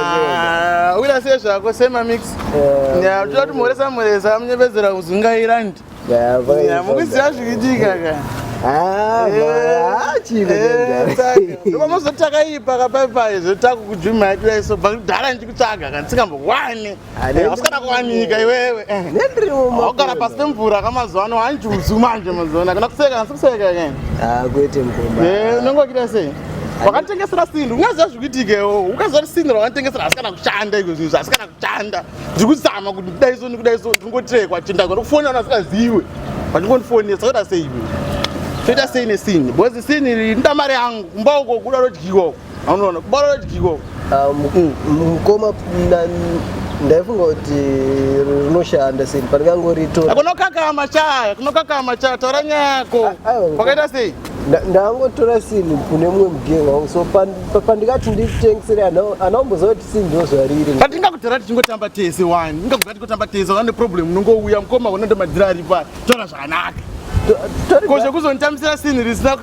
Yeah. Wila se zvako sema mix. Yeah, tuta tumoresa moresa amnyebezera kuzungaira ndi. Yeah, vai. Yeah, mukuziva zvikitika ka. Ah, eh, chini. Eh, Ndoma mozotaka ipa ka pai pai zvotaku kujuma yatira iso bakudara ndikutsvaga kansika mbo wani. Hasikana kuwanika iwewe. Eh. Nendiri mumwe. Wakara pasi pemvura kamazuva ano hanjuzu manje mazuva ano. Kana kuseka asi kuseka ke. Ah kwete mkomba. Eh unongo kira sei? Wakanitengesera sindu. Ungaziva zvikuitikewo. Ukaziva kuti sindu wakanitengesera hasikana kushanda iko zvinhu hasikana kushanda. Ndiri kuzama kuti kudai so nekudai so ndingotirekwa chinda kuti kufona vanhu vasikaziwe. Vachingondifonesa soda sei iwe. Toita sei nesindu? Because sindu iri nda mari yangu. Kumba uko kuda rodyiwa uko. anoona kubara dikiko ah, mm. mukoma ndaifunga kuti rinoshanda sei pandingangoritora ah, kunokakama chaya kunokakama chaya taura nyaya yako ah, kwakaita sei ndangotora sinhu kune mumwe mugenge wangu so pandikati nditengisire anaomboziva kuti sinhu ndozvariri patingakutora tichingotamba tese wani ingakugati kutamba tese wane problem unongouya mukoma unondomadhira ari pa tora zvakanaka ko zvekuzonditambisira sinhu risina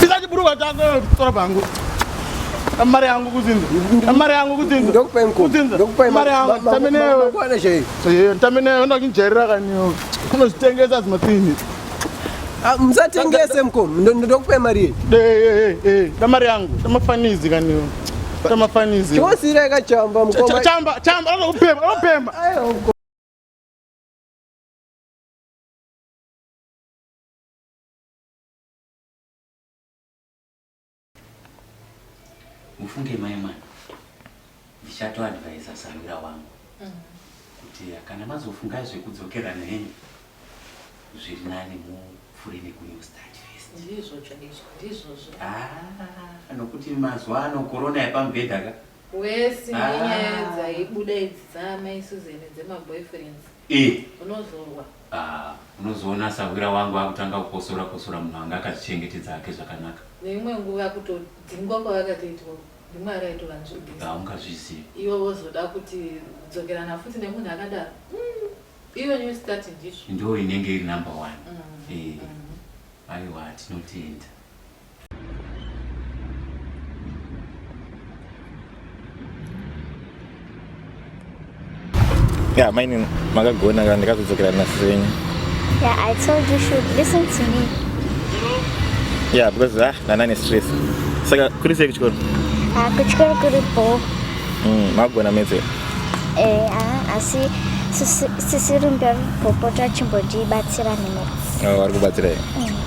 Pisa chibhurugwa chako tora pangu. Mari yangu kudzinza. Mari yangu kudzinza. Ndokupa inkomo. Kudzinza. Ndokupa Mari yangu. Tambe newe. Kwana chei. Seyeni tambe newe unoda kunjairira kaniwo. Unozvitengesa dzimatini. Ah, musatengese mkomo. Ndo- ndo- Ndokupa mari yei. Eh eh eh eh. Tamari yangu. Tamafanizi kaniwo. Tamafanizi. Chosira ikachamba Cha- mkomo. Chamba chamba anokupema anopema. Ayo, mkomo. mufunge mai mwana ndichatoadvisa sarwira wangu mm. kuti kana mazofunga zvekudzokerana henyu zviri nani mupfure nekunew start ah, nokuti mazuva ano korona yepamubhedha ka wese ah. nyaya dzaibuda idzi dzaamai suzeni dzemaboyfriends Eh. Unozorwa. Ah, unozoona sahwira wangu akutanga kukosora kosora munhu anga akazvichengetedza hake zvakanaka. Neimwe nguva kutodzingwa kwavakatoitwa rimwe araitova nzvigisa. Ah, ungazvizivi. Iwe wozoda kuti dzokerana futi nemunhu akadaro. Mm. Iwe new start ndizvo. Ndo inenge iri number one. Mm. Eh. Mm. Aiwa tinotenda. Yeah, maini makagona kana ndikazodzokera nasisi venyu. Yeah, I told you should listen to me. Yeah, because ah, nanane stress. Saka kuri sei kuchikoro? Ah, kuchikoro kuri bho. Mm, magona metse. Eh, ah, asi sisi rumbe popota chimbotibatsira nemaths. Oh, vari kubatsira here? Mm.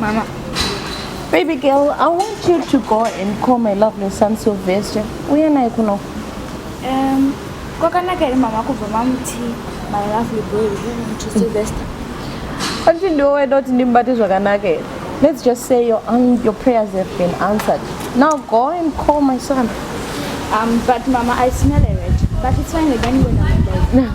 Mama. Baby girl, I want you to go and call my lovely son Sylvester. Uye naye kuno. Um, kwakanaka here mama kubva mamuti my lovely boy to Sylvester. Hanti ndiwe weda kuti ndimubate zvakanaka here? Let's just say your, um, your prayers have been answered. Now go and call my son. Um, but mama, I smell a rat. But it's fine, I don't know.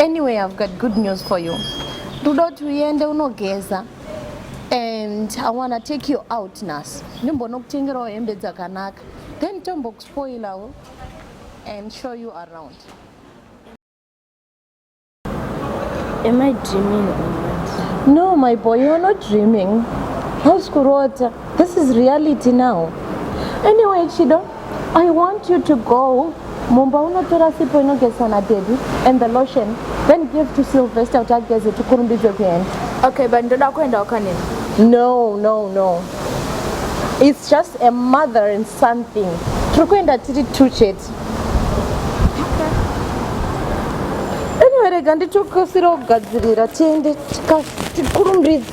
Anyway, I've got good news for you. Rudo kuti uende unogeza and I wanna take you out nhasi. Ndimbonokutengerawo hembe dzakanaka. Then tombokuspoilawo and show you around. Am I dreaming or what? No, my boy, you're not dreaming. How's Kurota? This is reality now. Anyway, Chido, I want you to go mumba unotora sipo inogezwa nadady and the lotion then give to sylvester kuti ageze tikurumbidze kuenda okay but ndoda kuenda wakanini no no no its just a mother and son thing tiri kuenda tiri two chete anyway rega nditokasira kugadzirira tiende tikurumbidze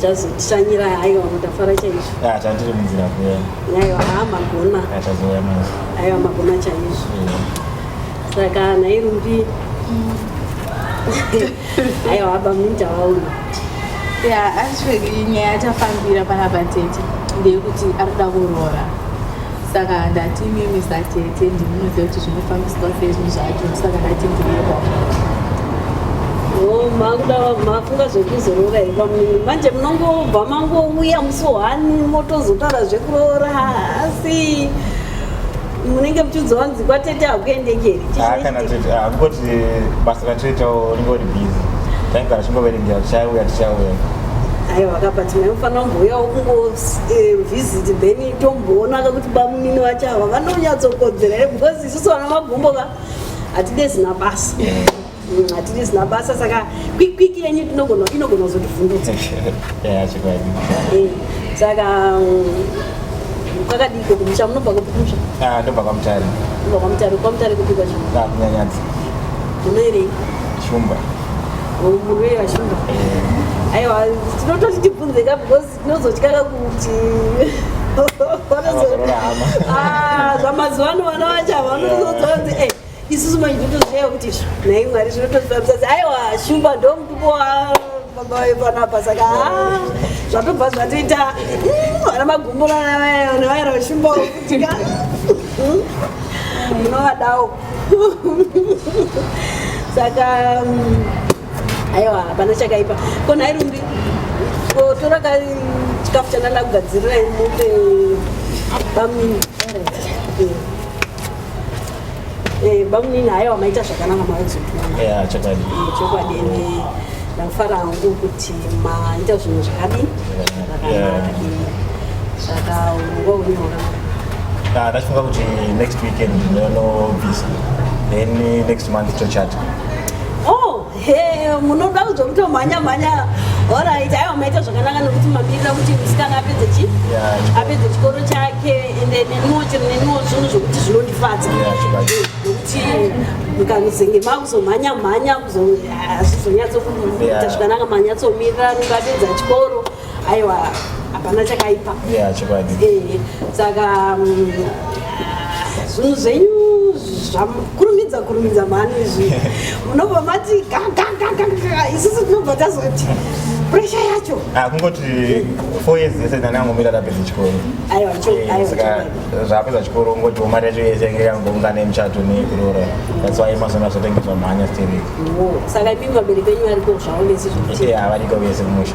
Chazotishanyira hayo mutafara chaizvo. Ah, chandiri munzira kuya. Hayo haa magona. Ah, chazouya manje. Hayo magona chaizvo. Saka nhai Rumbi. Hayo haba munja waona. Yeah, actually nyaya yatafambira panapa tete ndeyekuti ari kuda kuroora. saka ndati mimi satete ndimunoziva kuti zvinofambiswa sei zvinhu zvacho saka ndati ndiyewa oh, makuda mafunga zvekuzoroora here pamwiri manje munongobva mangouya musohani motozotaura zvekuroora asi munenge muchizowanzi kwatete hakuendekeri ah, kana tete ah, kungoti eh, basa ratete unenge uri busy taigara chingoverengera tichauya tichauya aiwa vakapati maimufanira kumbouyao kungo eh, visit then tomboonaka kuti bamunini vacho ava vanonyatsokodzera here because isusu vana magumbo ka hatide zina basa mm, hatide zina basa saka kwikwiki yenyu inogona kuzotivhundutsa eh, saka mm, kwakadiko kumusha munobva kumusha ah, ndobva kwamutare ndobva kwamutare kwamutare kupi kwacho ah, kunyanyadzi munoirei shumba oh, munoira shumba eh. aiwa tinototi tibvunzeka because Ndinozotyaka kuti ah, zvamazuva ano vana vacho ava vanozoziva kuti eh, isusu manje totozviya kuti nhai mwari zvinotozivabisa kuti aiwa shumba ndo mutupo wababa wepanapa saka ah, zvatobva zvatoita hmm, vana magumburana vaya vana vaira vashumba wokutika hmm, munovadawo saka hmm, aiwa hapana chakaipa ko nhai rumbi kotora ka chikafu chandanda kugadzirira mupe bamnini bamnini haiwa maita zvakanaka maozotuachokwadi chokwadi ende ndakufara hangu kuti maita zvinhu zvakadi saka unonga unyora ndachifunga kuti next weekend ndinonobvisa then next month tochata Oh, hey, munoda kuzokutomhanya mhanya orit aiwa maita zvakanaka nokuti mamirira kuti musikana apedze chi apedze chikoro chake ende neniwo chero neniwo zvinhu zvokuti zvinondifadza nokuti mukanozenge makuzomhanya mhanya kuzozonyatsokuita zvakanaka manyatsomirira nokapedza chikoro aiwa hapana chakaipa yeah, chokwadi eh, saka mm, zvinhu zvenyu zvakurumidza kurumidza mhani izvi munobva mati gagagagaga isusu tinobva tazoti presha yacho ah, kungoti four years yese ndani angomira tapedza chikoro eh, saka zvapedza chikoro ungoti mari yacho yese yange yangoungana yemuchato neyekuroora that's why mazona zvatengeswa mhanya stiri saka imi vabereki venyu variko zvaonesi zvokuti eh, avariko vese mumusha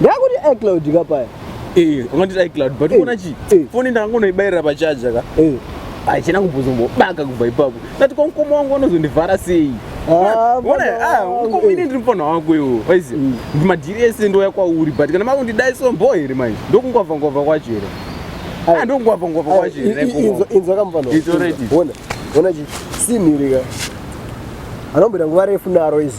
Ndakuti iCloud ka paya. Eh, ungati iCloud but unaona chi? Phone ndangonoibairira pa charger ka. Eh. Achina kumbozongobaka kubva ipapo. Ndati kwa mkomo wangu anozondivhara sei? Ah, Ona, ah, mkomo ini ndiri mfana wako iwo. Waizi, mm. madhiri ese ndoya kwauri but kana makundidai so mbo here manje? Ndokungwavha ngwavha kwacho here? Ah, ndokungwavha ngwavha kwacho here? Inzo inzo kamfana. It's already. Ona. Ona chi? Simiri ka. Anombira nguva refu naro izi.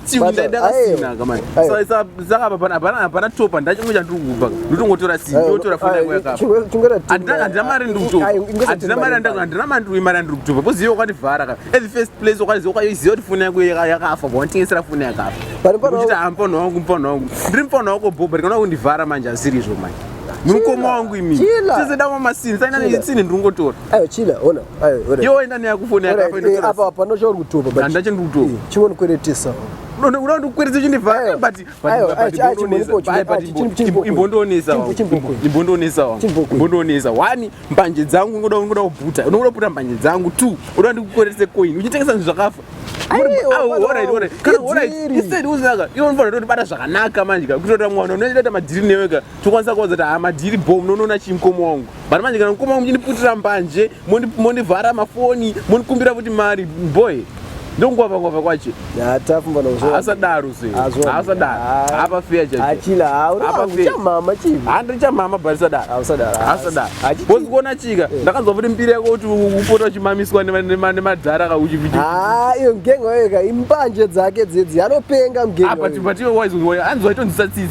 hapana top handina chimwe chandiri kupa ndotongotora sindotora fonaandina mari ndiri kutoahandina mari andina mari ndiri mari andiri kutopa bcause iyo kwativhara ka at the first place kwaiziva kwaiziva kuti foni yangu yakafa bwanditengesera foni yakafa uchiti hamupano wangu mupano wangu ndiri mupano wako bho but kana kundivhara manje asiri izvo manje mukoma wangu imi tese dama masini sainaa isini ndiri kungotora ayo chila ona Yo waenda neya kufoni yako apa inotora. Apa pano chauri kutopa but. Ndanda chini kutopa. Eh, chimweni kweretesa. Unoda kuti kweretsa chini va eh, but but imbondoonesa wa. Imbondoonesa wa. Imbondoonesa. Wani mbanje dzangu ngoda ngoda kubuta. Unoda kubuta mbanje dzangu 2. Unoda ndikukweretse coin. Uchitengesa zvinhu zvakafa. Instead uzaka. Iwe unofanira kuti bata zvakanaka manje ka. Kutoita mwana unoita madhiri neweka. tokwanisa kuudza kuti hama ndiri bho munonoona chii mukoma wangu but manje kana mukoma wangu muchindiputira mbanje mondivhara mafoni mondikumbira kuti mari boy ndongwavangwava kwacho asadaro seasadaro apa feya chaapafeyaamama chii handi chamama but sadaasadaro bcause kuona chika eh. ndakanzwa kuti mbiri yako kuti upota uchimamiswa nemadhara ka uchividiyo ngenga yoka imbanje dzake dzedzi anopenga mgenga apa but iwe waizoanzwa itonzisatsisi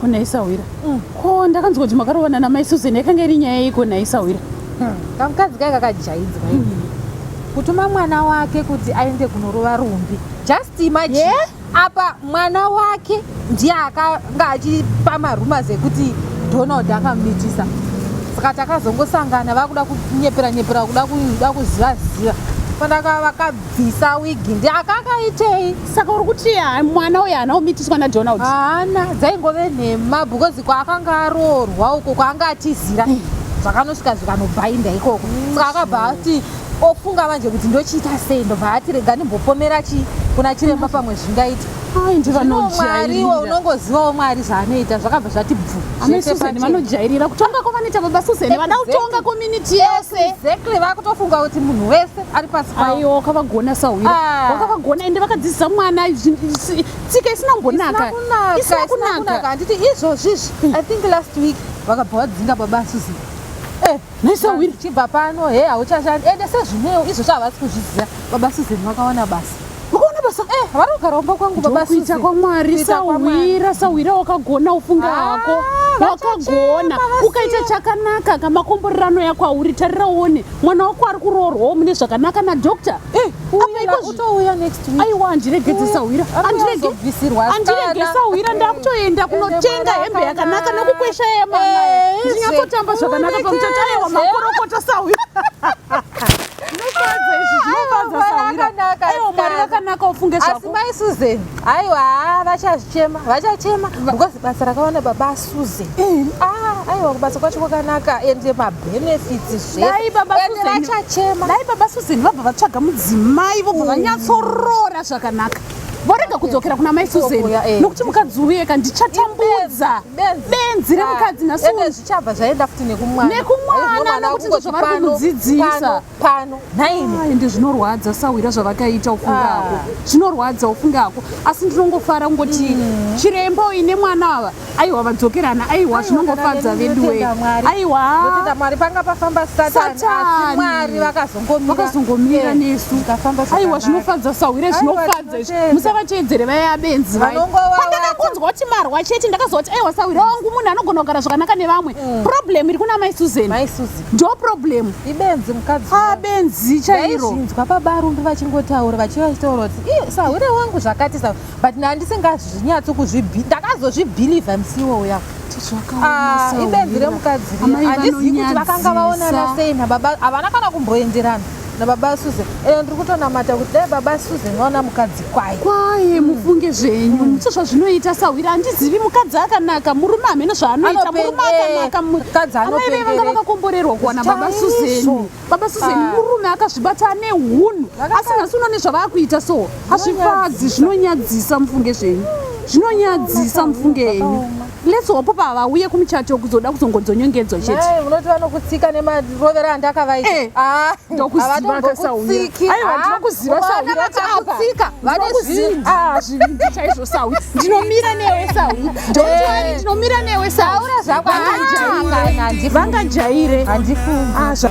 kunaisahwira mm. ko ndakanzwa kuti makarovana namai susan yakanga iri nyaya yei kunaisahwira hmm. kamukadzi kai kakajaidzwa hmm. kutuma mwana wake kuti aende kunorova rumbi just imagine yeah? apa mwana wake ndiye akanga achipa marumors ekuti donald akamumitisa saka takazongosangana vakuda kunyepera nyepera kuda kuda kuziva ziva pandaka vakabvisa wigi ndi akakaitei saka uri kuti mwana uyo haana kumitiswa nadonald haana dzaingove nhema because kwaakanga aroorwa uko kwaanga atizira zvakanosvika zvikanobhainda ikoko saka akabva ati ofunga manje kuti ndochiita sei ndobva ati rega ndimbopomera chii kuna chiremba pamwe zvingaita ndinomwariwo unongozivawo mwari zvaanoita zvakabva zvati bvuvanojairira kutonga kwavanoita baba susan vada kutonga community yese exactly vakutofunga kuti munhu wese ari pasi aiwa wakavagona sahwira ah. wakavagona ende vakadzidzisa mwana tsika isina kunaka isina kunaka handiti izvozvizvi i think last week vakabva vadzinga baba susan Nisa wiri chibva pano he hauchashandi ende sezvineo izvo chavasi kuzviziva baba Susan vakawana basa ukaona basa eh vari kugara kumba kwangu baba Susan kuita kwamwari sawira sawira wakagona ufunga ah, hako wakagona ukaita chakanaka kamakomborerano yako auri tarira uone mwana wako ari kuroorwawo mune zvakanaka nadoctor eh. utouya next week aiwa handiregedze sahwira handiregebvisirwa handirege sahwira ndakutoenda kunotenga hembe yakanaka nokukwesha yemama eh, ndinyatsotamba zvakanaka pamuchato aiwa makorokota sahwira asi mai susan aiwa vachazvichema vachachema because basa rakawanda babasu Suze. Mm. Ah, aiwa kubasa kwacho kwakanaka ende mabenefits zvese. baba Suze vachachema. Dai baba Suze vabva vatsvaga mudzimai vobva mm. vanyatsorora zvakanaka. Vorega kudzokera kuna mai Suze eh. nokuti mukadzi uye ka ndichatambudza benzi remukadzi ah, naSuze. Zvichabva zvaenda futi nekumwana. Nekumwana nokuti ndozvavari kumudzidzisa. pano nhaimi Ai, ende zvinorwadza sahwira zvavakaita ufunge Ah. hako zvinorwadza ufunge hako asi ndinongofara kungoti chiremba uyu nemwana ava aiwa vadzokerana aiwa zvinongofadza vedu wee aiwa ndotenda mwari panga pafamba satani asi Satani. mwari vakazongomira vakazongomira Eh, nesu zvikafamba aiwa zvakanaka. zvinofadza sahwire Aiwa, zvinofadza izvi tinotenda. musavatevedzere vaya benzi vaya Vanongova pandakakunzwa kuti marwa chete ndakazoti aiwa sahwire wangu munhu anogona kugara zvakanaka nevamwe problem iri kuna mai susan mai suzi ndo problem ibenzi mukadzi ha benzi chairo zvinzwa baba rumbi vachingotaura vachiva chitaura kuti sahwire wangu zvakati sa but nandisingazvinyatso kuzvibi ndakazozvibhilivha musiwo uya ah, ibenzi remukadzi andizivi kuti vakanga vaonana sei nababa havana kana kumboenderana nababa susan ende ndiri kutonamata kuti dai baba susan vaona mukadzi kwaye kwaye mufunge zvenyu mm. so zvazvinoita sahwira handizivi mukadzi akanaka murume hamene zvaanoita murume akanaka mukadzi anoamai vanga vakakomborerwa kuwana baba susan baba susan ah. murume akazvibata ane hunhu asi nhasi unoone zvavaakuita so hazvifadzi zvinonyadzisa mufunge zvenyu zvinonyadzisa mufunge henyu Let's hope pa vauye kumuchato kuzoda kuzongodzonyongedzwa chete. Mai munoti vanokutsika nemarovera andakavaita. Eh, ah, ndokuziva kasauya. Aiwa ah, ndinokuziva sauya. Vakakutsika. Vanokuziva. Ah, zvivindi chaizvo sauya. Ndinomira newe sauya. Ndotwani eh. ndinomira newe sauya. Taura zvako. Vangajaire. Vangajaire. Handifungi. Ah, zva.